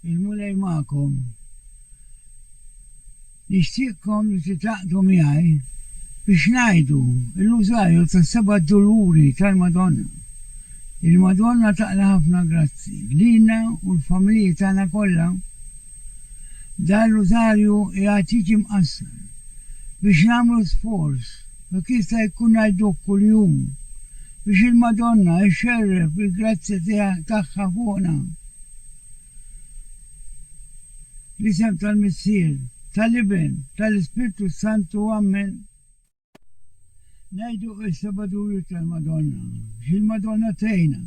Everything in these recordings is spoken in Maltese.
Il-Mulej magħkom. Nixtieqkom li titgħaqqdu miegħi biex ngħidu l-Rużarju tas-Seba' Duluri tal-Madonna. Il-Madonna taqla' ħafna grazzi lilna u l-familji tagħna kollha. Dan Rużarju jgħad jiġi mqassar biex nagħmlu sforz Jekk jista' jkun ngħiduh kuljum, biex il-Madonna ixxerref bil-grazzja tagħha fuqna l-isem tal-Missier, tal-Iben, tal-Ispirtu s-Santu. Ammen. Ngħiduh issa b'adujut tal-Madonna, biex il-Madonna tgħinna,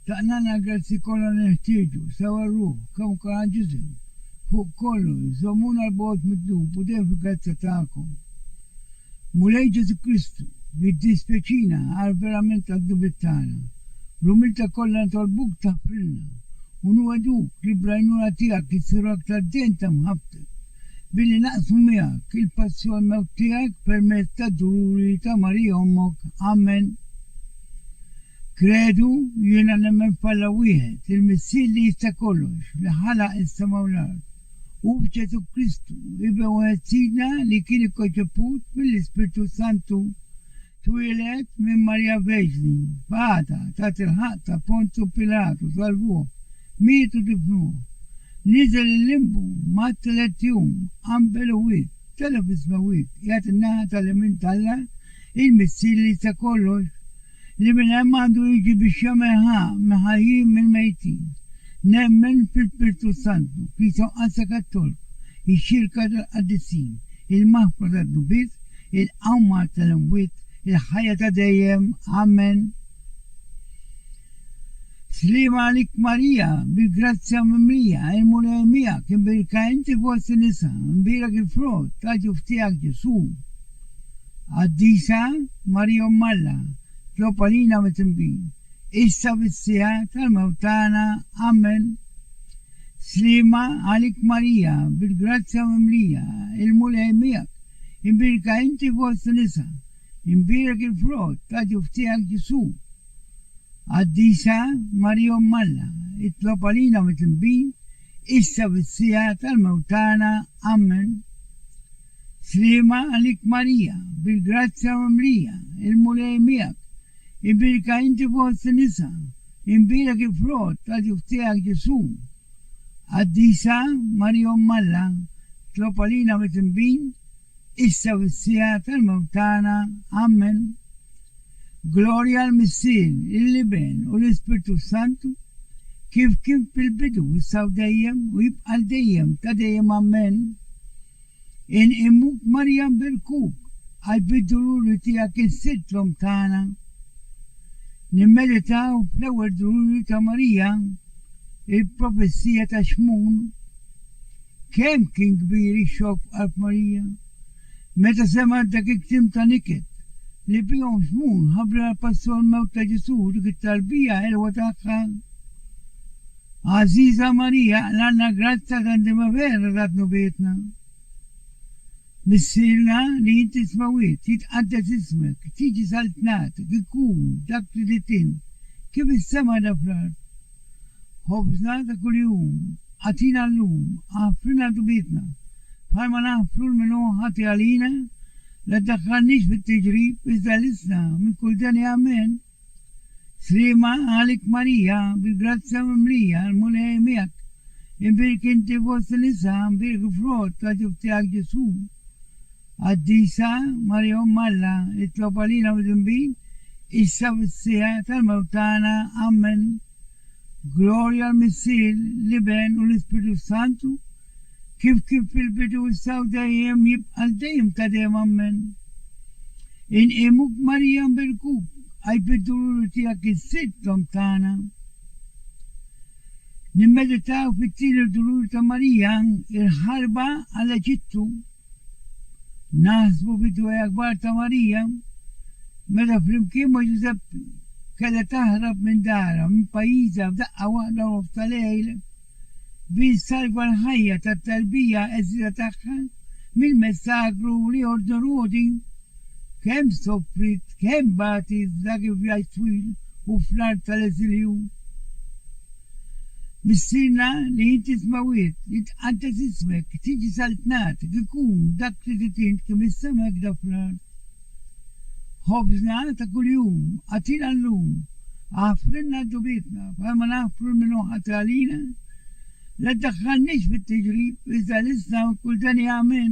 taqnagħna l-grazzji kollha li neħtieġu, sewwa r-ruħ, kemm ukoll għall-ġisem, fuq kollox, żommuna 'l bogħod mid-dnub u dejjem fil-grazzja tagħkom. Mulej Ġesù Kristu, jiddispjaċina għal verament għad-dnubiet tagħna. Bl-umiltà kollha nitolbuk taħfrilna, u nwegħduk li bl-għajnuna tiegħek insiru aktar dehn ta' mħabbtek, billi naqsmu miegħek il-passjon mewt tiegħek permezz tad-duluri ta' Marija Ommok. Amen. Kredu, Jiena nemmen f'Alla wieħed, il-Missier li jista' kollox, li ħalaq is-sema u l-art. Hu Ġesù Kristu, Ibn wieħed Sidna li kien ikkonċeput mill-Ispirtu s-Santu. Twieled minn Marija Verġni, f'għada, taħt il-ħaqq ta' Ponzu Pilatu, salvuh, miet u difnuh. Niżel il-Limbu, mat tliet jum, qanbel u wiek, tela' fis-smewwiet, qiegħed in-naħa tal-jemin t'Alla, il-Missier li jista' kollox. li minn hemm għandu jiġi biex jagħmel ħa mill-ħajjin mill-mejtin. Nemmen fil-Pirtu s-Santu, Knisja Mqaddsa Kattolika, iċ-Ċirka tal-Qaddisin, il-maħfra tad-dnubiet, il-qawma tal-imwiet, il-ħajja ta' dejjem. Amen. Sliema għalik Marija, bil-grazzja mimlija, il-Mulej miegħek, imbielka inti fost in-nisa, imbielek il-frott ta' ġuf tiegħek Ġesù. Qaddisa Marija Omm Alla, tlob għalina mit-tinbih, issa fis-siegħa tal-mewt tagħna. Amen. Sliema għalik Marija, bil-grazzja mimlija, il-Mulej miegħek, imbierka inti fost in-nisa, imbierek il-frott ta' ġuf tiegħek Ġesù. Qaddisa Marija Omm Alla, itlob għalina mit-tinbih, issa fis-siegħa tal-mewt tagħna. Amen. Sliema għalik Marija, bil-grazzja mimlija, il-Mulej miegħek, ibbierka inti fost in-nisa, imbierek il-frott ta' ġuf tiegħek Ġesù. Qaddisa Marija Omm Alla, tlob għalina mit-tinbin, issa u fis-siegħa tal-mewt tagħna. Amen. Glorja għall-Missier, lill-Iben u lill-Ispirtu s-Santu, kif kien fil-bidu, issa u dejjem, u jibqa' għal dejjem ta' dejjem. Amen. Inqimu b'Marjam bil-kub, għal bid-duluri tiegħek insidd l-Omm tagħna. Nimmeditaw fl-ewwel duluri ta' Marija, il-profezija ta' Xmun. Kemm kien kbir ix-xokk f'qalb Marija, meta semgħet dak il-kliem ta' niket, li bihom Xmun ħabbrilha l-pass u l-mewt ta' Ġesù u dik it-tarbija ħelwa tagħha! Għażiża Marija, l-Anna Grazza ta' Ndimavera ta' tnubietna, missierna li int ismewwiet, jitqaddes ismek, tiġi saltnatek, ikun dak li ridt int, kif is-sema għadha fl-art. Ħobżna ta' kuljum agħtina llum, aħfrilna dnubietna, bħalma naħfru l-min hu ħati għalina, la ddakkarniex fit-tiġrib, iżda ħlisna minn kull deni. Amen. Sliema għalik Marija, bil-grazzja mimlija, il-Mulej miegħek. Imbierki inti fost in-nisa, imbierek il-frott ta' ġuf tiegħek Ġesù. Qaddisa Marija Omm Alla, itlob għalina midinbin, issa fis-siegħa tal-mewt tagħna. Ammen. Glorja l-Missier, l-Iben u l-Ispirtu s-Santu, kif kien fil-bidu, issa u dejjem, jibqa' għal dejjem ta' dejjem. Ammen. Inqimuk Marija nbirkuk, Aj bid-duluri tiegħek is-Sitt l-Omm tagħna. Nimmeditaw fit-tieni dulur ta' Marija, il-ħarba għall-Eġittu. Naħsbu fid-dwejjaq kbar ta' Marija meta flimkien ma' Ġużepp kellha taħrab minn darha, minn pajjiżha f'daqqa waħda u nofs ta' lejl biex ssalva l-ħajja tat-tarbija għeżieża tagħha mill-messakru li jordnu rwodi. Kemm sofriet, kemm bagħtet f'dak il-vjaġġ twil u fl-art tal-eżilju. Missierna li int is-smewwiet, jitqaddes ismek, tiġi saltnatek, ikun dak li trid int kemm is-sema hekda fl-art. Ħobżna ta' kuljum agħtina llum, aħfrilna d-dnubietna bħalma naħfru lil min hu ħati għalina, la ddaħħalniex fit-tiġrib, iżda listna minn kull deni amen.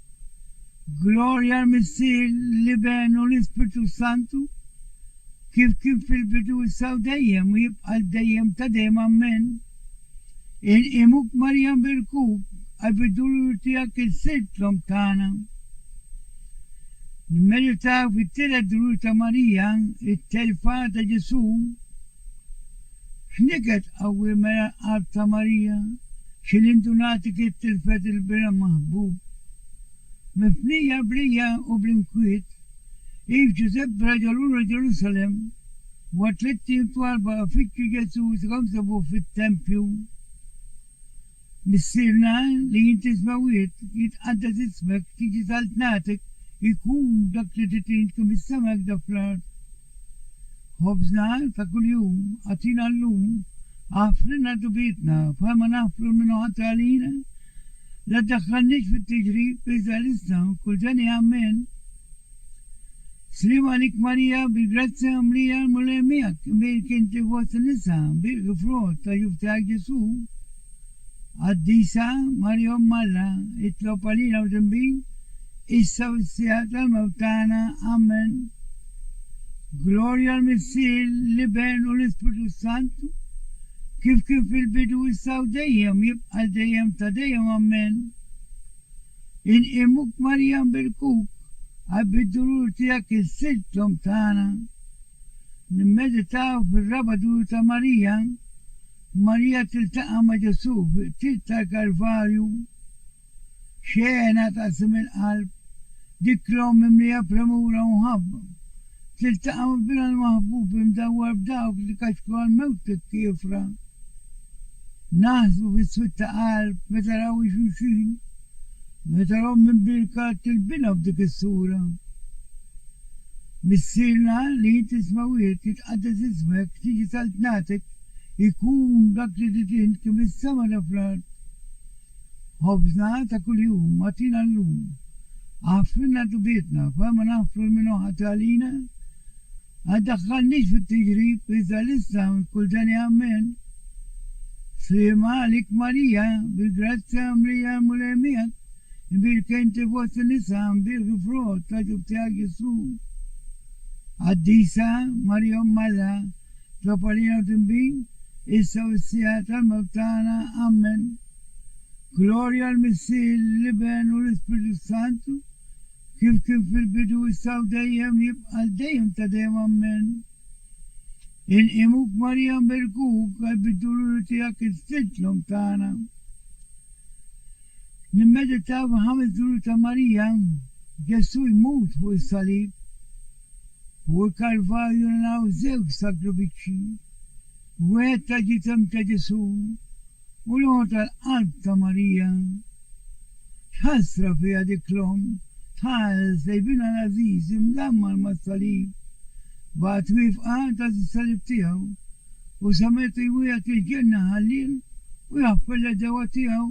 Glorja l-Missier, l-Iben u l-Ispirtu s-Santu, kif kien fil-bidu issa u dejjem u jibqa' għal dejjem ta' dejjem Ammen. Inqimuk Marija nbirkuk għal bid-dulur tiegħek il-Sid l-Omm tagħna. Nimmeditaw fit-tielet dulur ta' Marija, it-telfa ta' Ġesu'. X'niket qawwi mela l-qalb ta' Marija, xi lindunati kif tilfet il-bira maħbub! Mifnija b'rija u bl-inkwiet, hi f'Ġużeppi raġa' lura Ġerusalemm. Wara tliet ijiem twal baqa' ifittxu Ġesù u sakemm sabuh fit-tempju. Missierna li int ismek wieħed jitqaddes ismek tiġi saltnatek ikun dak li trid int kemm is-sema hekk dak fl-art. Ħobżna ta' kuljum agħtina llum, aħfrilna dnubietna bħalma naħfru l-min hu ħati għalina, la ddaħħalniex fit-tiġrib iżda lissna kull deni ammen. Sliem għalik Marija bi grazzja mlija l-Mulej miegħek, imbirik inti fost in-nisa, mbirik il-frott ta' ġuf tiegħek Ġesù. Qaddisa Marija Omm Alla, itlob għalina mdinbin, issa u s-siegħa tal-mewt tagħna. Amen. Glorja l-Missier, l-Iben u l-Ispirtu s-Santu, kif kien fil-bidu, issa u dejjem, jibqa' għal dejjem ta' dejjem. Amen. Inqiemuk Marija nbirkuk għal bid-dulur tiegħek insirt l-Omm tagħna. Nimmeditaw fir-raba' dulur ta' Marija, Marija tiltaqa' ma' Ġesù fil-qtil tal-Kalvarju. Xena taqsim il-qalb, dik l-Omm mimlija premura u mħabba, Tiltaqa' ma' binha l-maħbub imdawwar b'dawk li kaċku għall-mewt tat-tiefra. Naħsbu bis-swied ta' qalb meta raw hi xulxin, meta l-omm imbierka tilbinha b'dik is-sura. Missierna li int isma' wieħed jitqaddes ismek, tiġi saltnatek, ikun dak li rrid int kemm is-sema da fl-art. Ħobżna ta' kuljum agħtina llum. Aħfrilna dnubietna bħal ma naħfru lil min hu ħati għalina. Ma ddaħħalniex fit-tiġrib, iżda lissna minn kull deni Amen. Sliema għalik Marija, bil-grazzja mlejja l-Mulej miegħek, imbielka inti fost in-nisa, mbielk il-frott ta' ġuf tiegħek Ġesù. Qaddisa Marija Omm Alla. Topolino tinbin issa u s-siegħa tal-mewt tagħna. Ammen. Glorja għal Missier, l-Iben u l-Ispirtu s-Santu, kif kien fil-bidu, issa u dejjem, jibqa' għal dejjem ta' dejjem. Ammen. Inqimuk Marija nberkuk għal bid-duluri tiegħek is-Sid l-Omm tagħna. Nimmeditaw fil-ħames duluri ta' Marija, Ġesù jmut fuq is-salib. Fuq il-Kalvarju naraw żewġ sagrufiċċji, wieħed tal-ġisem ta' Ġesù u l-ieħor tal-qalb ta' Marija. X'ħasra fiha dik l-omm tħares lejn binha l-għażiż imdammar mas-salib, baqgħet wieqfa għand għaż is-salib tiegħu. U sa meta jwiegħed il-ġenna ħallieħ u jaħfer l-għedewwa tiegħu?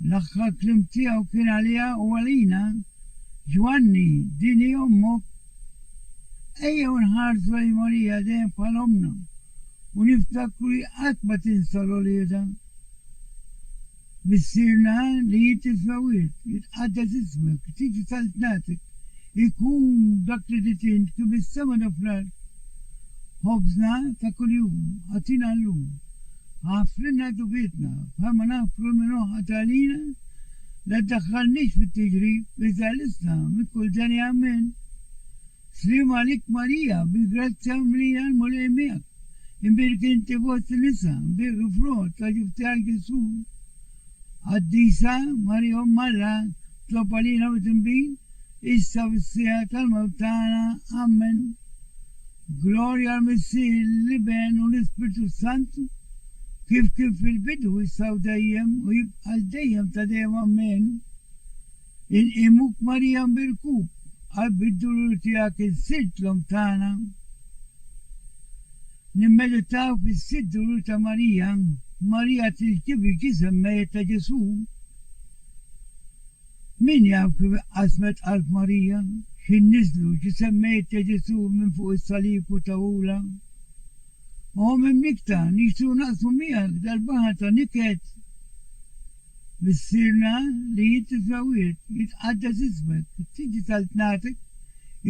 L-aħħar kliem tiegħu kien għaliha u għalina, Ġwanni, din hi ommok. Ejjew nħarsu lejn Marija dejjem bħala ommna u niftakru li qatt ma tinsa l-uliedha. Missierna li int isfewwiet, jitqaddes ismek, tiġi saltnatek, ikun dak li ridt int kif fis-sema kif fl-art. Ħobżna ta' kuljum agħtina llum. Aħfrilna dnubietna bħalma naħfru lil min hu ħati għalina. La ddaħħalniex fit-tiġrib, iżda ħlisna minn kull denja. Amen. Sliem għalik Marija, bil-grazzja mlija l-Mulej miegħek, imbirik inti fost in-nisa, imbirik il-frott ta' ġuf tiegħek Ġesù. Qaddisa Marija Omm Alla, tlob għalina mit-tinbin, issa u fis-siegħa tal-mewt tagħna. Ammen. Glorja għal Missier, l-Iben u l-Ispirtu s-Santu, kif kien fil-bidu, issa u dejjem, u jibqa' għal dejjem ta' dejjem. Ammen. Inqimuk Marija mbirkuk qalb id-dulur tiegħek il-Sitt l-Omm tagħna Nimmeditaw fis-sitt dulur ta' Marija Marija tiltivi l-ġisem mejjet ta' Ġesù Min jaf kif iqqasmet qalb Marija X'ħin niżlu ġisem mejjet ta' Ġesù minn fuq is-salib u tawhulha Omm imnikkta nixtru naqsmu miegħek dal-baħar ta' niket Missierna li int iżżewwiet, jitqaddes ismek, tiġi saltnatek,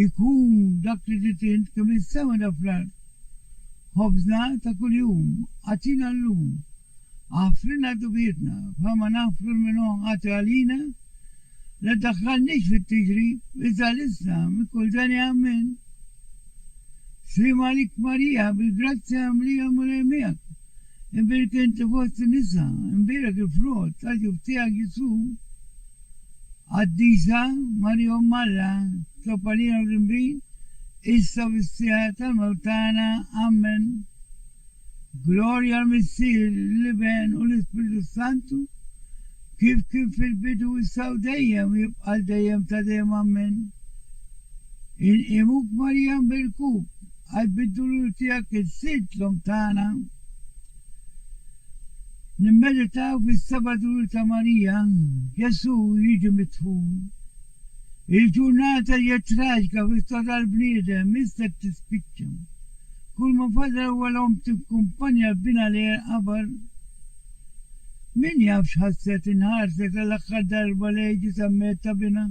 ikun dak li ridt int kemm is-sema da fl-art. Ħobżna ta' kuljum agħtina llum. Aħfrilna dnubietna bħalma naħfru l-min hu ħati għalina. La ddaħħalniex fit-tiġri, iżda ħlisna minn kull denja. Ammen. Sliem għalik Marija, bil-grazzja mimlija l-Mulej miegħek. Imbirkenti fost in-nisa, imbierek il-frott tal-ġuf tiegħek, Ġesù. Qaddisa Marija Omm Alla, tlobb għalina mdinbin, issa u fis-siegħa tal-mewt tagħna. Ammen. Glorja għall-Missier, lill-Iben u lill-Ispirtu s-Santu, Kif kien fil-bidu, issa u dejjem, u jibqa' għal dejjem ta' dejjem. Ammen. Inqimuk Marija nbirkuk, għal bid-dulur tiegħek int sirt l-Omm tagħna. Nimmeditaw fis-seba' dulur ta' Marija, Ġesù jiġi midfun. Il-ġurnata hija traġika fl-istorja tal-bniedem, m'issa qed tispiċċa. Kull ma fadal huwa l-omm tikkumpanja l-binha lejn il-qabar. Min jaf x'ħasset inħarset għall-aħħar darba lejn ġisammiet ta' binha.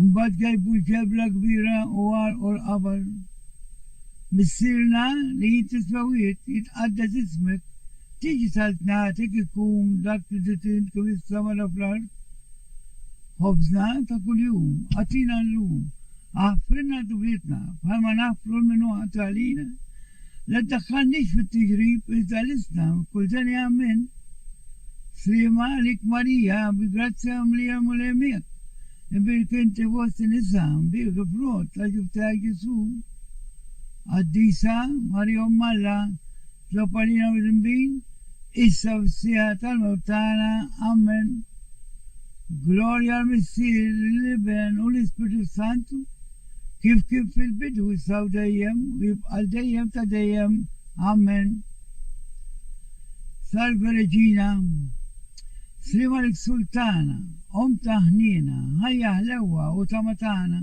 Mbagħad gajbu l-ġebla kbira u għarrqu l-qabar. Missierna li jien tisma' wiegħed, jitqaddes ismek, tiġi saltnatek ikun dak li ġejt int kif issa mara fl-art. Ħobżna ta' kuljum agħtina llum. Aħfrilna dnubietna bħalma naħfru lil min hu ħati għalina. La ddakkalniex fit-tiġrib iżda ħlisna minn kull denia minn. Sliema għalik Marija bi grazzja mimlija l-Mulej miegħek. Imbirik inti fost in-nisa, mbierik il-frott ta' ġuf tiegħek Ġesu'. Qaddisa Marija Omm Alla. Tlob għalina mir-rinvij, issa fis-siegħa tal-mewt tagħna. Ammen. Glorja għal Missier, lill-Iben u l-Ispirtu s-Santu, kif kien fil-bidu, issa u dejjem, u jibqa' għal dejjem ta' dejjem. Ammen. Salve Regina. Sliem għalik Sultana, Omm ta' ħniena, ħajja ħlewwa u tama tagħna.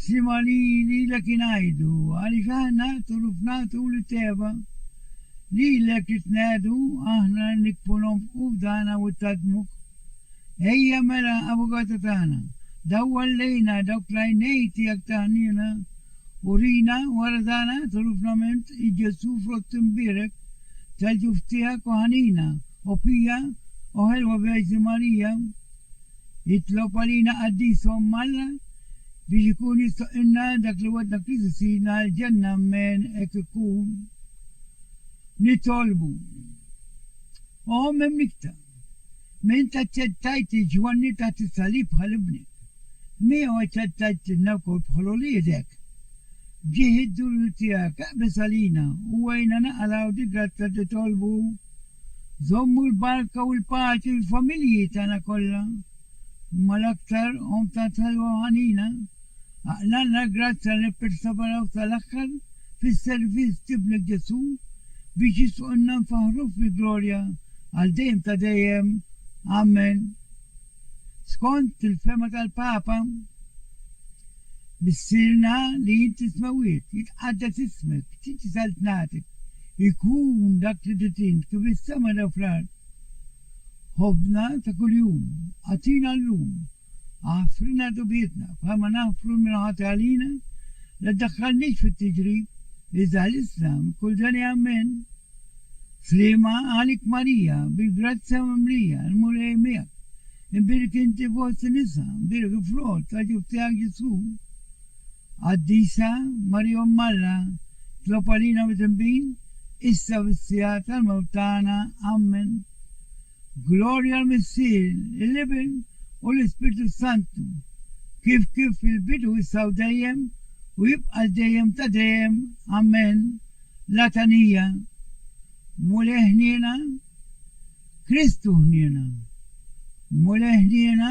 Sima li lilek ingħidu, għaliex aħna tul u fna tul it-tegħba, lilek nitnegħdu, aħna nikbu nonfqu fdana u ttadmuk. Ejja mela, Avukata tagħna, dawwal lejna dawk l-għajnejn tiegħek ta' ħniena, urina wara dana tul u fnament i Ġesù frott imbierek tal-ġuf tiegħek u ħanina, o pija, o ħelwa Verġni Marija. Jitlob għalina qaddishom Alla biex ikun jistoqilna dak li wegħdna Kristu Sidna l-ġenna Amen hekk ikun. Nitolbu. O Omm imnikta, minn int aċċettajt lil Ġwanni taħt is-salib bħal ibnek, miegħu aċċettajtlilna wkoll bħal uliedek. B'ġieħ id-dulur tiegħek, eqbeż għalina u għinna naqalgħu dil-grazza titolbu. Żommu l-barka u l-paċi fil-familji tagħna kollha, imma l-aktar omm tant ħelwa u ħanina. Aqlagħna l-grazzja li nipperseveraw sal-aħħar fis-servizz t'Ibnek Ġesù biex jisqunna nfaħħruk fil-glorja għal dejjem ta' dejjem. Amen. Skont il-fehma tal-Papa, Missierna li int tismewwiet, jitqaddes ismek, tiġi saltnatek, ikun dak li trid int kif fis-sema jew fl-art. Ħobżna ta' kuljum agħtina llum. Aħfrilna dnubietna bħalma naħfru l-minħati għalina, la ddaħħalniex fit-tiġrib, iżda ħlisna minn kull deni. Amen. Sliema għalik Marija, bil-grazzja mimlija, il-Mulej miegħek. Imbierek inti fost in-nisa, imbierek il-frott ta' ġuf tiegħek Ġesù. Qaddisa Marija Omm Alla, tlob għalina midinbin, issa u fis-siegħa tal-mewt tagħna. Ammen. Glorja l-Missier, l-Iben, u l-Ispirtu s-Santu, kif kif fil-bidu issa u dejjem u jibqa' l-dejjem ta' dejjem. Amen. L-għatanija. Mulej ħniena, Kristu ħniena. Mulej ħniena.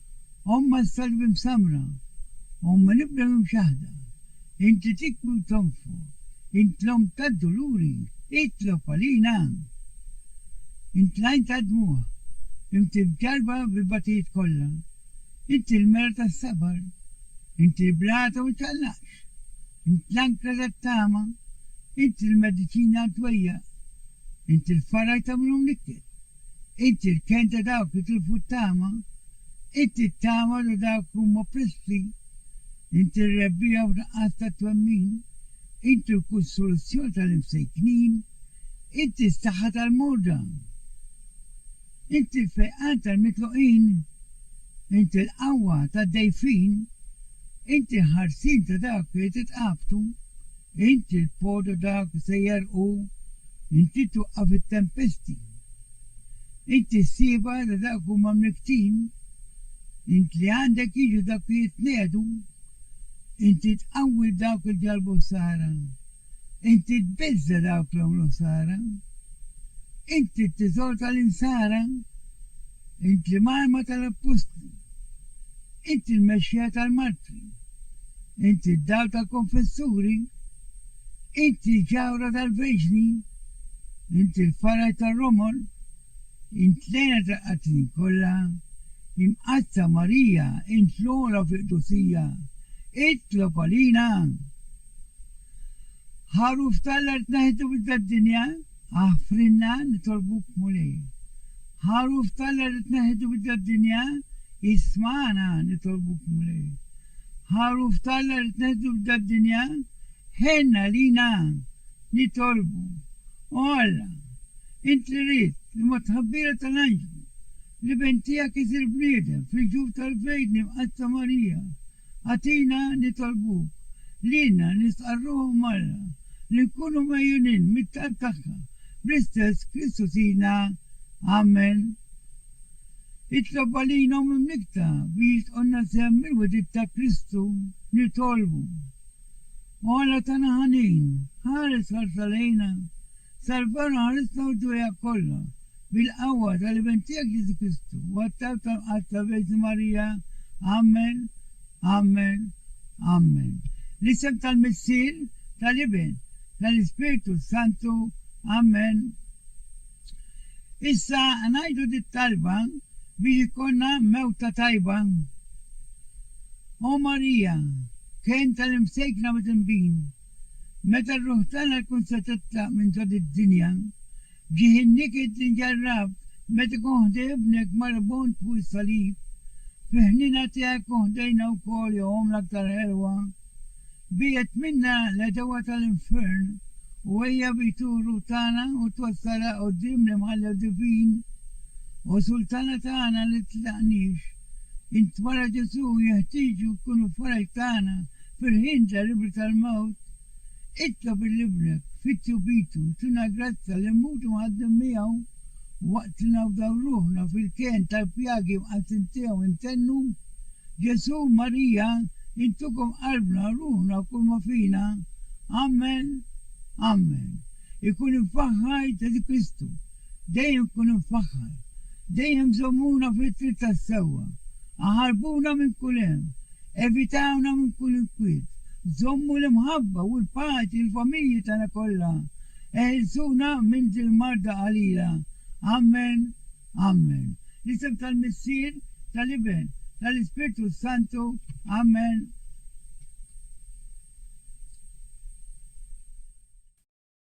Omm s-salb imsammra, Omm l-ibda mimxaħda, Inti tikwi u tonfoq, Int l-Omm tad-duluri, Itlob għalina! Int l-għajn tad-dmugħ, Inti mċarrba bil-bagħtijiet kollha, Inti l-mera tas-sabar, Inti l-bla ta' ma ċaqlaqx, Int l-ankra tat-tama, Inti l-mediċina għat-twejjaq, Inti l-faraj ta' min hu mnikket. Inti l-kenn ta' dawk li tilfu t-tama, inti t-tama ta' dawk li huma oppressi, inti r-rebbiegħa f'nuqqas ta' twemmin, inti l-kunsolazzjoni tal-imsejknin, inti s-saħħa tal-morda, inti l-fejqan tal-mitluqin, inti l-qawwa tad-dgħajfin, inti l-ħarsien ta' dawk li titqabtu, Int il-pod u dawk li se jegħrqu, inti twaqqaf it-tempesti. Int is-sieba ta' dawk li huma mnikktin, int li għandek jiġu dawk li jitniegħdu. Inti tqawwi lil dawk li ġarrbu ħsara, inti tbiżża' dawk li għamlu ħsara. Inti t-tiżor tal-insara. Int l-Imgħalma tal-Appostli. Int il-Mexxija tal-Martri. Int id-Dawl tal-Konfessuri. Int il-Ġawhra tal-Verġni. Int il-Faraġ tar-romol. Int l-Għena tal-qattin kollha. Imqaddsa Marija, int l-ogħla fil-qdusija, itlob għalina! Ħaruf t'Alla li tneħħitu minn dad-dinja. Aħfrilna nitolbuk Mulej. Għaruf t'Alla li tneħħitu biddla d-dinja, ismagħna nitolbuk Mulej. Għaruf t'Alla li tneħħitu biddla d-dinja, ħenn għalina nitolbu. O Alla, int li ridt li mat-tħabbira tal-anġlu, l-Iben tiegħek isir bniedem fil-ġuf tal-fejdni mqaddsa Marija, Agħtina nitolbuk, lilna nistqarruh marna, li nkunu megħjunin mit-talb tagħha, bl-istess Kristu Sidna. Amen. Itlob għalina u mimlikta biex tqogħdna sehem mill-wegħdiet ta' Kristu. Nitolbu. O Alla tagħna ħanin, ħares ħarsa lejna, salvana ħarisna u ġwejha kollha, Bil-qawwa tal-Eventijak Ġesu Kristu u għat-talb tal-Mqaddsa Verġni Marija, Amen, Amen, Amen. L-isem tal-Missier, tal-Iben, tal-Ispirtu s-Santu, Amen. Issa ngħidu dit-talba biex ikollna mewta tajba. O Marija, kenn tal-imsejkna bit-tinbin. Meta r-ruħ tagħna tkun se titlaq minn ġo did-dinja, ġieħ in-niket li nġarrabt meta ikun ħdej ibnek marbut fuq is-salib. Fi ħniena tiegħek hu ħdejna wkoll jogħom l-aktar ħelwa. Biegħed minna l-għedewwa tal-infern u ejja b'id r-ruħ tagħna u twassalha quddiem l-Imħallef Divin u Sultana tagħna li tlaqniex. Int wara Ġesù jeħtieġu jkunu l-faraġ tagħna fil-ħin terribbli tal-mewt. Itlob lil Ibnek, Fitju Pitu, jtina l-grazja li mmutu mħaddmin miegħu waqt li nafdaw ruħna fil-kenn tal-pjagi mqaddsin tiegħu intennu, Ġesù, Marija, intukom qalbna, ruħna u kull ma fina. Amen. Amen. Ikun imfaħħar Ġesù Kristu. Dejjem kun imfaħħar. Dejjem żommuna fit-triq tas-sewwa. Aħarbuna minn kull hemm. Evitawna minn kull inkwiet. Żommu l-imħabba u l-paċi l-familji tagħna kollha. Eħilsuna minn dil-marda qalila. Ammen. Ammen. L-isem tal-Missier, tal-Iben, tal-Ispirtu s-Santu. Ammen.